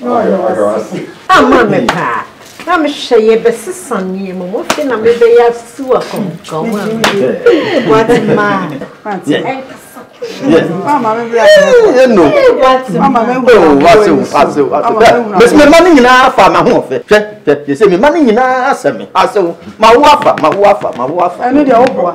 na ɔyɛ ɔse. Ama me paa. Na mehwɛ yɛbɛsesa nneɛma mu afei na mebɛyɛ asiw akɔnkɔn a mede boate maa ɛnkasa ɛno bɛsi me ma no nyinaa fa ma ho ɔfɛ hwɛ hwɛ yɛsɛ me ma no nyinaa asɛ me asɛ wo ma wo afa ma wo afa ma wo afa ɛno deɛ woboa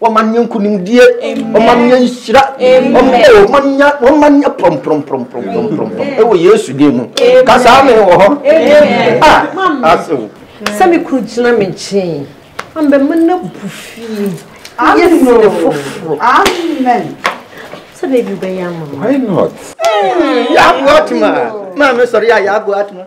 wɔma nyɛ nkonimdie wɔma nyɛ nhyira wɔma nyɛ prɔmprɔmprɔmprɔmprɔm ɛwɔ yesu din mu ka saa me wɔ hɔ asew sɛ me kuru gyina me nkyɛn ambɛma no abu fie yɛ sene foforɔ sɛ baabi wobɛyɛ ama why not yɛaboa atoma maame sɔre a yɛaboa atoma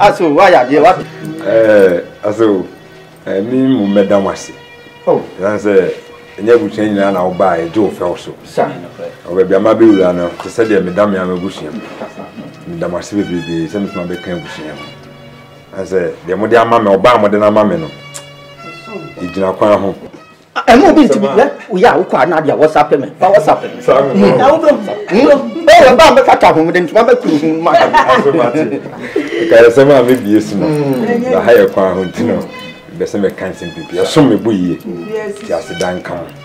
aso wayɛ adeɛ wa. ɛɛ aso ɛɛ mi mu mɛda mo ase. o yan sɛ ɛnyɛ abusua nyinaa na ɔbaa ɛgye o fɛw so. sa ɔbɛ bi ama bɛ wura no te sɛ deɛ meda mi ama abusua mi meda mo ase bebrebe sɛ mi tuma bɛ kan abusua mi. na sɛ deɛ mode ama me ɔbaa mode no ama me no ɛgyina kwan ho ɛmu obi ntumi yɛ oyɛ a wokɔ anade a wɔsape me fa wɔsape me na wodom ɛyɛ ba mɛkata ho mede ntoma mɛkuru ho ma ɛkayɛ sɛm a mɛbie so no na ha yɛ kwan ho nti no bɛsɛ mɛka nsɛm pipi ɛsom me bo yie nti aseda nka ho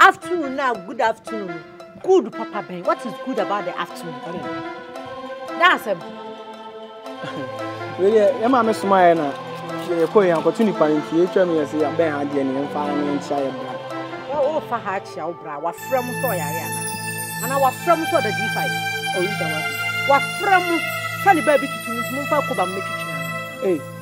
Afternoon na good afternoon good papa bɛn what is good about the afternoon daasɛm. wei deɛ yɛ maa mi soma yɛ na yɛ kɔ yɛn akɔto nipa yɛn fie atwa mi yɛ sɛ yabɛn ha deɛ ne yɛn fa ne yɛn kyia yɛ bra. o fa ha akyia wo bra wafrɛ mu sɛ ɔyare ana ana wafrɛ mu sɛ ɔda d5 ɔyi da wa wafrɛ mu sɛ ne baabi tutu ne mu fa kɔ ba mu metwitwi ana.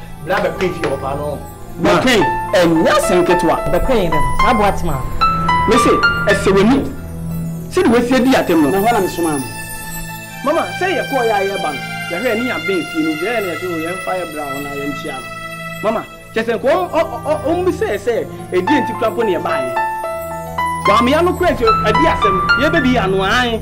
Bra bɛkoe fie ɔbaa no ho. Bɛkoe ɛnyɛ asɛm ketewa. Bɛkoe yɛn dɛ no saa boa tema no. Me se ɛsɛ w'ani sɛde w'asie di atɛm no. Me hɔ na me somaa mo. Mama sɛ yɛ kɔɔ yɛ a yɛɛba no yɛhwɛ yɛne yɛn abɛn fie no nti ɛyɛ na yɛ se o yɛn fa yɛ bra hɔ na yɛn kyia no mama kyɛ sɛ nka wɔn bisa yɛ sɛ ɛdeɛ nti kora mpo na yɛbaayɛ wɔammea no kora nti ɛde asɛm yɛbɛ bi yɛ anoa ae.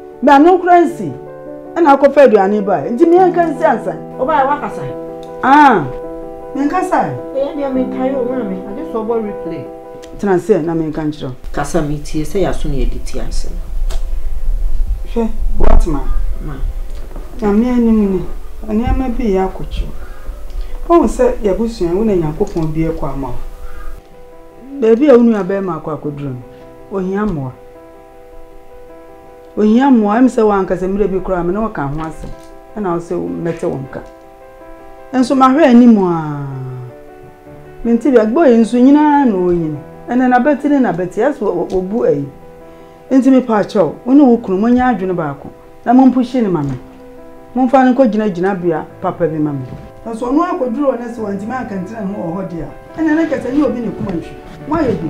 Me ano kura nsi ɛna akɔfa aduane ba nti me nka nsi ansa. Ɔbaa wakasa ɛ. Ah me nkasa ɛ. Ɛyɛ deɛ me nkae o maame agye sɛ ɔbɔ replay. Tena ase na me nka nkyerɛ wo. Kasa me tie sɛ yɛaso ne yɛde ti ase no. Hwɛ what ma. Ma. Nyame anim ni nneɛma bi yɛ akɔkyere wo hu sɛ yɛabusua wo na Nyankopɔn bue kwa ama wo. Baabi a wo nua bɛɛma akɔ akɔduru no ohia mmoa. Ohia mmoa. Ɛm sɛ w'ankasa mmerɛ bi koraa me ne wo ka ho asɛm ɛna wo sɛ mɛte wo nka. Nso mahwɛ anim a mente bi agbɔ yi nso nyinaa na ɔnyini. Ɛnɛ na bɛte ne na bɛte ɛsɛ wɔbu ayi. Nti me pa kyɛw wo ne wo kunu monyɛ adwene baako na mompuhye ne ma me. Momfa no nkɔ gyina gyina bea papa bi ma me. Nso ɔno akɔduru hɔ na sɛ wantumi ankantena ne ho wɔ hɔ deɛ a ɛnɛ na kyɛ sɛ ɛnyɛ obi ne kuma nhwi. Moayɛ bi.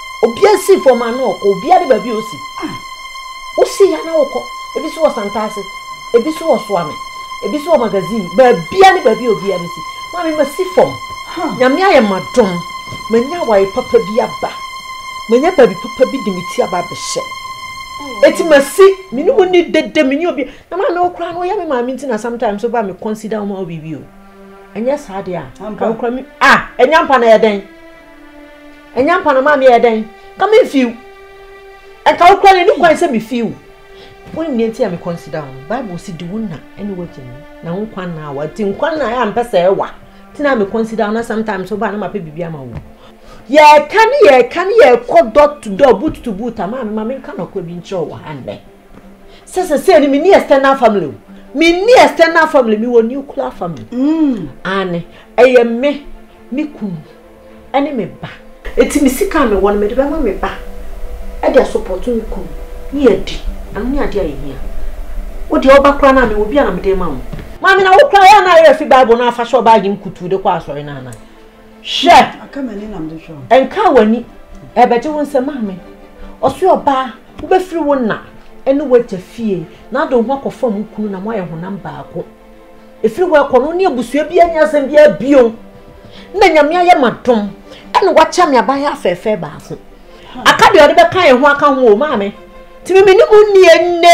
obia si fam ano ɔkɔ obia de baabi osi ah wosi ya na wokɔ ebi so wɔ santaase ebi so wɔ soame ebi so wɔ magazine baabia ne baabi obia bɛsi maame masi fam nyame ayɛ ma dom manya awaye papa bi aba manya baabi papa bi de me ti aba abɛhyɛ eti masi me ne mu ni dede me ne obi na maame okura no yɛ me maame nti na sometimes oba me consider ɔmo awo bibi o ɛnyɛ saa deɛ a kan kura mi a ɛnyɛ mpa na yɛ dɛn. Ɛnyɛ ampa na maame yɛɛ dɛn? Nka me nfi wo. Nka wo kura ni kwan sɛ me fi wo. Wonim nea nti a me consider wo no? Bible si di wo na ɛne wagya ni na wo nkwa na awa. Nti nkwa na a mpɛ sɛ ɛwa. Ti na me consider wo na sometimes wo ba na mapɛ biribi ama wo. Yɛka ne yɛka ne yɛkɔ dɔ to dɔ boot to boot a maame ma me nka nɔkɔ bi nkyerɛ wo wɔ ha nnɛ. sɛ sɛsɛ ni menni external family o menni external family mewɔ nuclear family mm. ane ɛyɛ me me kunu ɛne me ba ɛti me sika a mewɔ no mede bɛma me ba ɛde asopɔto me kunu ne yɛdi ɛno ne adeɛ a yɛhia wodeɛ woba koraa no a mewɔ bi a na mede ma wo maame na wo koraa yɛ na ayɛ fi bible no afa hyɛ ɔbaagye nkutu de kɔ asɔre no ana Hwɛ! Nka w'ani, ɛbɛgye wo nsam ame. Ɔse ɔbaa, wobɛfiri wo na ne w'agya fie na ade wo ho akɔfam wo kunu na moayɛ honam baako. Ɛfiri hɔ ɛkɔ no, wo ne abusua biara nni asɛm biara bio. Na Nyame ayɛ m'adom, ɛna wakyɛ me aban afɛɛfɛ baako. Aka deɛ ɔde bɛka yɛn ho aka ho o, maame. Tìmí mi ni mu nni ɛnne.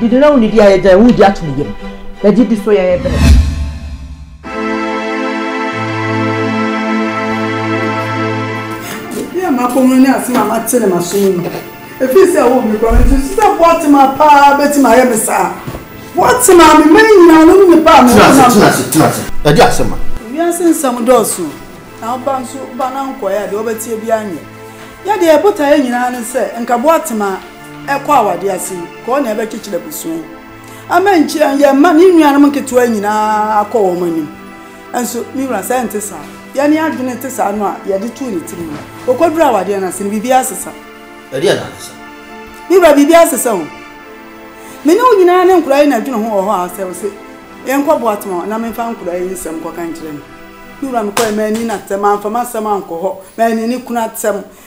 Didi na wonni di a yɛgyae wo di ato ne yam. Na didi so yɛyɛ bere. Ebi a m'akɔ mu ne asɛm a mate ne m'aso mu no, efiri sɛ ɛwɔ me kura me nti sɛ Boatema paa betumi ayɛ me saa. Boatema me mma nyinaa no ne nipa a me wɔ nam. Tena ase, tena ase, tena ase. Ɛde asɛm a. Wiase nsɛm dɔɔso na wo ba nso ba na nkɔeɛ a deɛ ɔbɛteɛ biara nyɛ. Yɛdeɛ botaeɛ nyinaa ne sɛ nka Boatema. ɛkɔ awadeɛ ase yi kɔɔ na ɛbɛkyekyere abusua yi ama nkyia yɛn mma ne nuanom nketewa nyinaa akɔ wɔn anim nso me wura sɛ nte saa yɛne adwene te saa no a yɛde too ne tirim no ɔkɔduru awadeɛ no ase no biribi asesa ɛdeɛ na asesa me wura biribi asesa ho me ne wo nyinaa ne nkora yi na adwene ho wɔ hɔ a sɛ wo se yɛnkɔ boatoma na memfa nkora yi nsɛm kɔka nkyerɛ no me wura mekɔɛ m'ani na tɛm amfa m'asɛm ankɔ hɔ m'ani ne kunu atɛm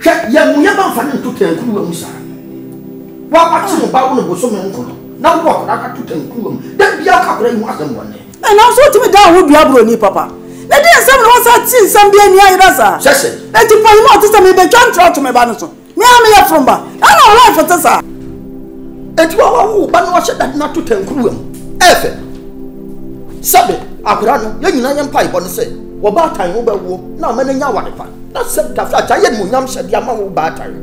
Hwɛ, yɛ mo yam amfa no nto tankuruwa mu saa. Wo a woakye wo ba wo no bosome nko no, na wowɔ akwadaa no ato tankuruwa mu, da biara woka akwadaa yi ho asɛm bɔne. Ɛ, nanso wotumi dan wo ho dua boroni papa. Na deɛn nsɛm na woasan te nsɛm bi ani ayera saa? Hyɛ ase. Enti panyim a ɔte sɛ me rebɛtwa ntra ato me ba no so? Me a meyɛ foroba, na na wo life te saa? Enti wawawo wo ba na wahyɛ dade no ato tankuruwa mu. Ɛyɛ fɛ. Sɛbe, akwadaa no, yɛn nyinaa yɛn mpaebɔ ne sɛ w'ɔbaatan no bɛwo na ama no anya aware pa. Na sɛ tafrata yɛ animuonyam hyɛdeɛ ama wo baatan no,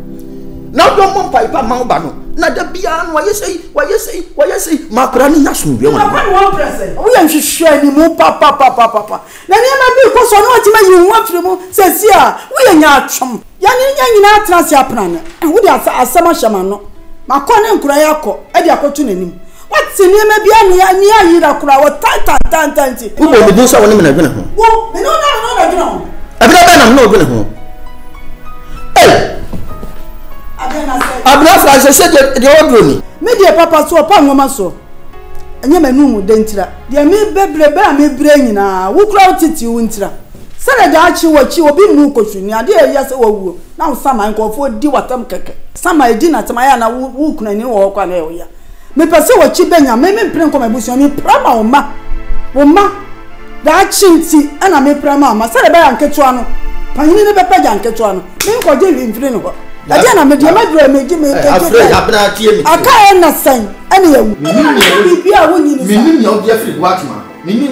na wodɔ mmɔ mpae pa mma wo ba no, na da biara no wayɛ sei, wayɛ sei, wayɛ sei, ma akwadaa no nya asomdwoeɛ wɔ ne ho. Woyɛ nhwehwɛanimu papapapapa, na nneɛma bi rekɔ so a na watumi ayi wo ho afiri mu, seesei a, woyɛ nyaatwom. Yɛne yɛn nyinaa atena ase apena no, wode asɛm ahyɛ m'ano. Makɔ ne nkuran akɔ de akɔto n'anim. Wate nneɛma bi a ani ani ayera koraa, wɔtan tantaantan nti. Wobɔ me din sɛ wo ne me na adwene ho. Wo, me ne wo na wo na adwene ho. Ɛberɛ bɛn na me ne wo dwene ho? Ei! Adeɛ na sɛ. Abena fra sɛ sɛ deɛ ɔduro ni. Me deɛ papa so ɔpa nwoma soɔ. Ɛnyɛ m'anum mu dɛ ntira. Deɛ mebɛbrɛ berɛ a mebrɛ nyinaa, wo koraa wo titiriw ntira. Sɛdeɛ daakye wɔ akyi obi nnu wo kɔsu nni adeɛ a ɛyɛ sɛ wawuo na wo saman nkorɔfoɔ di w'asɛm kɛkɛ saman ɛdi n'asɛm ayɛ anaa wo wo kunu ani wɔ hɔ koraa na ɛyɛ wo ya mepɛ sɛ w'akyi bɛnya me me mpere nkɔ m'abusua me pira ma wo mma wo mma daakye nti ɛna me pira ma wo mma sɛdeɛ ɛbɛyɛ a nketewa no panyini no bɛpagya nketewa no me nkɔgye hwee mfiri ne hɔ ɛdeɛ na medeɛ madura megye me nkɛgye kɛn aka ɛna sɛn ɛne yɛwu menim nea wodi afiri boatema menim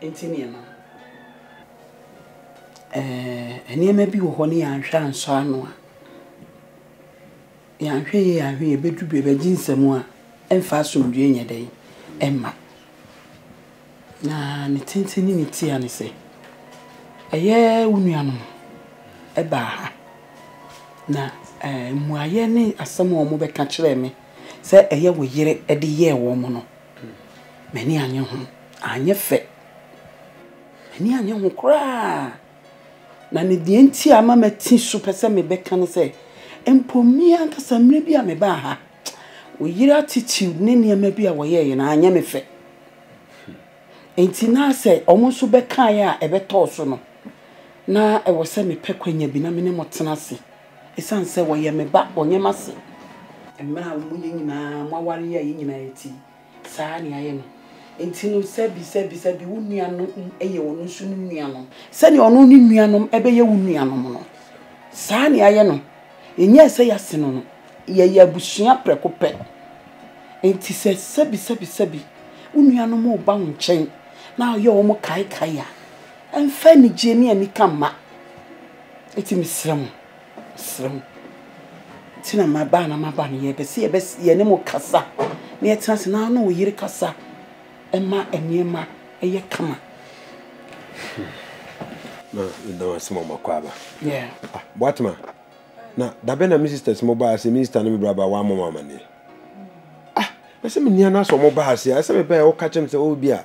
Enti nneɛma. Ɛɛ, nneɛma bi wɔ hɔ no yɛanhwɛ ansɔ ano a, yɛanhwɛ yie anhwɛ yie ɛbɛdu baabi a ɛgye nsam a, ɛmfa asomdwoeɛ nyɛ dɛn? Ɛmma. Na ne tenten ne ne tia ne sɛ, ɛyɛ wo nuanom baa ha, na mmuaeɛ ne asɛm a wɔbɛka kyerɛɛ me sɛ ɛyɛ wo yere de yɛɛ wɔn no, M'ani annye ho. Anyɛ fɛ. M'ani annye ho koraa. Na ne deɛ nti a ama mati so pɛ sɛ mebɛka ne sɛ, mpo me ankasa mmerɛ bi a mebaa ha, wo yere attitude ne nneɛma bi a wɔyɛeɛ no, anyɛ me fɛ. Enti na sɛ wɔn nso bɛkaeɛ a ɛbɛtɔɔ so no, na ɛwɔ sɛ mepɛ kwanya bi na me ne mo tena ase Esiane sɛ wɔyɛ me ba, wɔnyɛ m'ase. Mmerɛ a mo yɛ nyinaa mo aware yɛ yɛ nyinaa eti, saa ara ne ayɛ no. Enti no, sɛbi, sɛbi, sɛbi wo nua no yɛ ɔno nso ne nuanom. Sɛdeɛ ɔno ne nuanom bɛyɛ wo nuanom no, saa ara ne ayɛ no. Yɛnyɛɛ sɛ yɛasen no no, yɛyɛ abusua prɛko pɛ. Enti sɛ sɛbi, sɛbi, sɛbi wo nuanom reba wo nkyɛn na woyɛ wɔn kaekae a, mfa anigyeɛ ne anika mma. Eti mesrɛ mo, mesrɛ mo, nti na maba a na maba no, yɛpɛ sɛ yɛbɛs yɛne mo kasa na yɛtena ase na wo ne wo yere kasa ma nneɛma yɛ kama. Na meda mo ase ma moakɔ aba. Yeah. Ah, Boatema, na dabɛn na me sisters mo baa ase, me sister ne me braba wɔammɔ mo amanneɛ? Ah, ɛsɛ me nia no asɛ ɔmo baa ase a, ɛsɛ me bɛɛ ɔka kyerɛ me sɛ, oh, bi a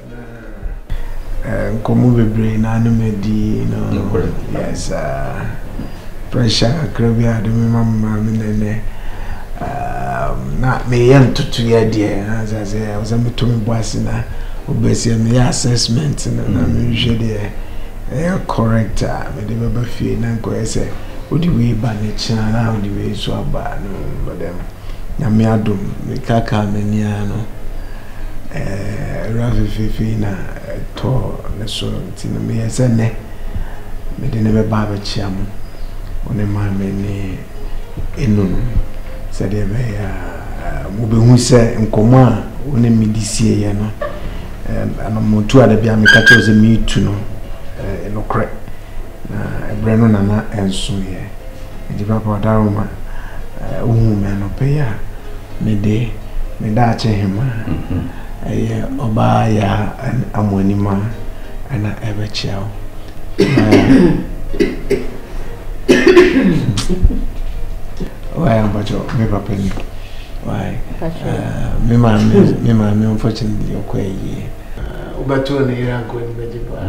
Nkɔmmɔ bebree na ne me di no. Nokorɛ. Yes aa. Pressure kakra bi a de me ma me maame na ɛnɛ na meyɛ ntotoyɛ deɛ na sɛ sɛ ɛwɔ sɛ meto me bo ase na wobɛsɛ meyɛ assessment no na mehwɛ deɛ ɛyɛ correct a mede bɛba fie na nkɔyɛ sɛ wode wei ba ne kyena na wode wei nso aba no but um, nyame adom mekaka m'ani ara no Wura fefeefe yi na ɛtɔɔ ne so nti no, meyɛɛ sɛ nnɛ mede no bɛba abɛkyea mo, wo ne Maame ne Enunu, sɛdeɛ ɛbɛyɛ a mobɛhu sɛ nkɔmmɔ a wo ne me de sieeɛ no, ɛno motu ada bi a meka kyerɛ sɛ meretu no nokorɛ, na ɛberɛ no nana ɛnsoeɛ. Enti papa Ɔdaroma, wohu me anɔpa yi a, mede me daakye hema ɛyɛ ɔbaa yaa amoanima ɛna ɛbɛkyea wo. Why ampakyɛ me papa ni? Why? Me maame me maame unfortunately ɔkɔ ayie. Wobɛto ne yere ankɔ ne bɛgye paa.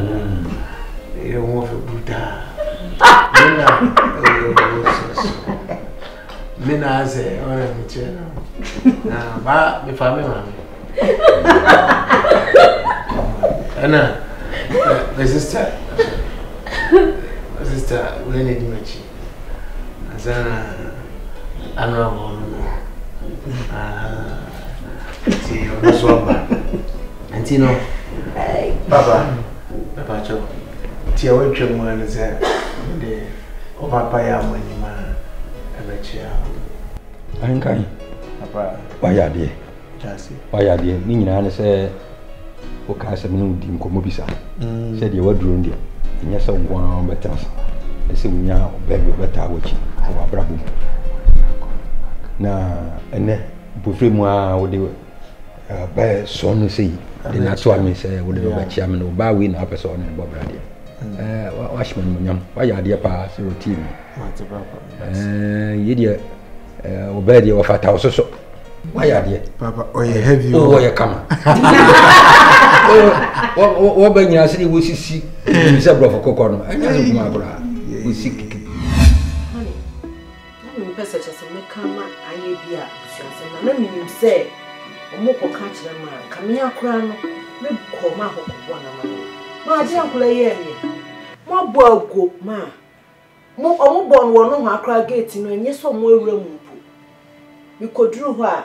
Ne yere ho ɔfɛ brutaa. Mina ooo soso. Mina sɛ ɔyɛ mi kyɛ no. Na ba mi fa mi ma mi. Ɛna my sister my sister wei na edi m'akyi. Ansa na ano abɔ no no. Nti ɔno so ɔba. Nti no papa papa kyɛw. Deɛ watwa mu ara ne sɛ mede ɔpapa yɛ mo anim a ɛbɛkyea wo. Ankan. Papa. Wayɛ adeɛ. Kyase. Wayɛ adeɛ. Ne nyinaa ne sɛ wokaa sɛ mene wodi nkɔmmɔ bi saa. Mm. Sɛ deɛ waduro no deɛ, ɛnyɛ sɛ wo nko ara wobɛtena saa. Ne sɛ wonya ɔbaa bi ɔbɛtaa w'akyi wɔ w'abrabɔ mu. Na ɛnɛ mpofire mu a wode bɛɛ sɔɔ no sɛ yi de na ato ame sɛ wode no bɛkyea me no ɔbaa wei na wapɛ sɛ ɔne no bɔ bradeɛ mm. wahyɛ me animonyam wayɛ adeɛ paa sɛ ɔtie mu yɛ deɛ ɔbɛɛ deɛ ɔfata wo soso wayɛ adeɛ ɔyɛ kama wɔbɛ nyina sɛ ne wɔsisi sɛ borɔfo kokɔ no ɛnyɛ so nkuma koraa wɔsi kiki Na mempɛ sɛ kyerɛ sɛ mɛka ama ayɛ bi a abusuasɛm na na menim sɛ ɔmo kɔ ka kyerɛ ma nka me ara koraa no me kɔ ma hɔ kɔ bɔ na ma no ma agye ankola yɛ neɛ mo abɔ aguo ma mo ɔmo bɔ no wɔ nohoa koraa gate no ɛnyɛ sɛ ɔmo awura mu mpo me kɔ duru hɔ a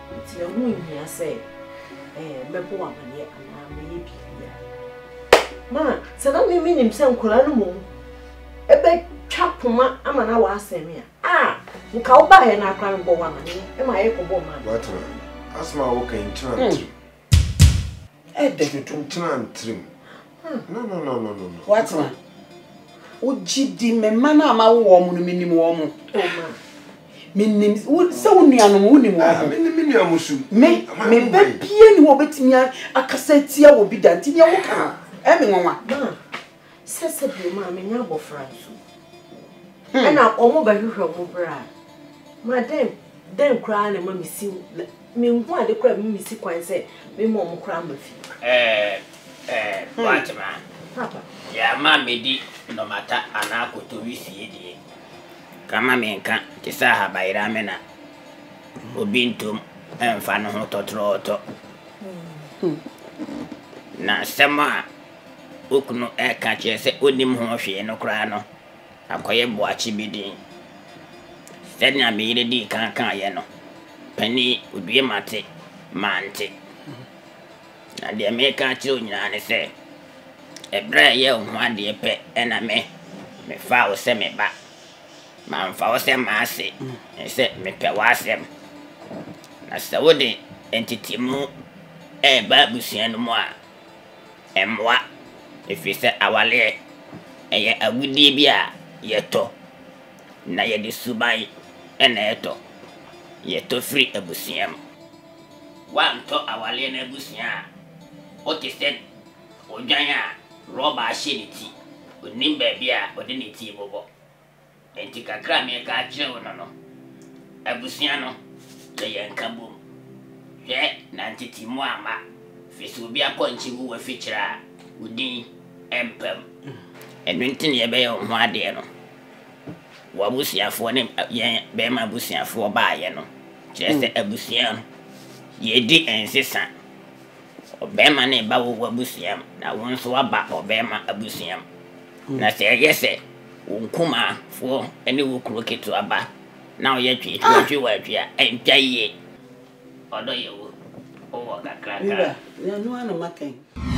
Enti ɛho nhia sɛ mɛbɔ wo amaneɛ anaa mɛyɛ biribiara. Ma sɛ na mimi nim sɛ nkwadaa no mmom ɛbɛtwa poma ama na wɔasɛn me a a nka wobaeɛ no akora mebɔ wo amaneɛ ma yɛkɔbɔ ɔma no. Wate asɛm a woka yi nkyerɛ ntiri. Ɛdɛ dodo ntena ntirim. No no no no no no. Watena. Wogye di me mma no a mawo wɔn no menim wɔn. Oh ma. Menim sɛ wo nuanom wonim wɔn. Ah, menim me nua mo su. Me me bɛ bie ne hɔ obetumi akasa atia wɔ bi da nti nea woka no ɛme nwanwa. Sɛ sɛdeɛ maame nya abɔfra nso, ɛna wɔn bɛhwehwɛ wɔn bra. Ma dɛn dɛn koraa na ɛma mesi menhu ade koraa ɛma mesi kwan sɛ mema wɔn koraa ma fie. Ɛɛ ɛɛ wate ma. Papa. Deɛ ama medi nnɔmata anaa kotowi fie deɛ, kama menka te sɛ ahabayerame na obi ntom mfa ne ho tɔtorɔɔtɔ. Na asɛm a wo kunu reka akyerɛ sɛ onnim ho hwee no koraa no akɔyɛ boakye bi den. Sɛnea me yere dii kan kaeɛ no, panin odue mate mante. Na deɛ meka akyerɛ wo nyinaa ne sɛ, ɛberɛ a ɛyɛ wo ho adeɛ pɛ na me mefaa wo sɛ me ba. Mamfa wo sɛ m'ase, ne sɛ mepɛ w'asɛm. Na sɛ wode ntetemu reba abusua no mu a, Ɛmmoa, ɛfiri sɛ awareɛ, ɛyɛ agudeɛ bi a yɛtɔ, na yɛde suban na ɛtɔ. Yɛtɔ firi abusua mu. Woantɔ awareɛ no abusua a, wote sɛ odwan a rɔba ahyɛ ne ti, ɔnnim baabi a ɔde ne ti rebobɔ. Enti kakra a mereka akyerɛ wo no no, abusua no yɛ yɛn nkabom. Hwɛ na ntetemu amma, firi sɛ obi apɔnkye wu w'afikyiri a, wo din rempa mu. Ɛno nti na yɛbɛyɛ wo ho adeɛ no, w'abusuafoɔ ne yɛn bɛrima abusuafoɔ baeɛ no, kyerɛ sɛ abusua no, yɛredi nsesa. Ɔbarima no reba wo w'abusua mu, na wo nso woaba ɔbarima abusua mu. Na sɛ ɛyɛ sɛ. Wo nkumaa foɔ ne wo kuro ketewa ba na ɔyɛ twee tua twe wɔ atwi a ɛntwa yie ɔdɔ yɛ wo wowɔ kakraka.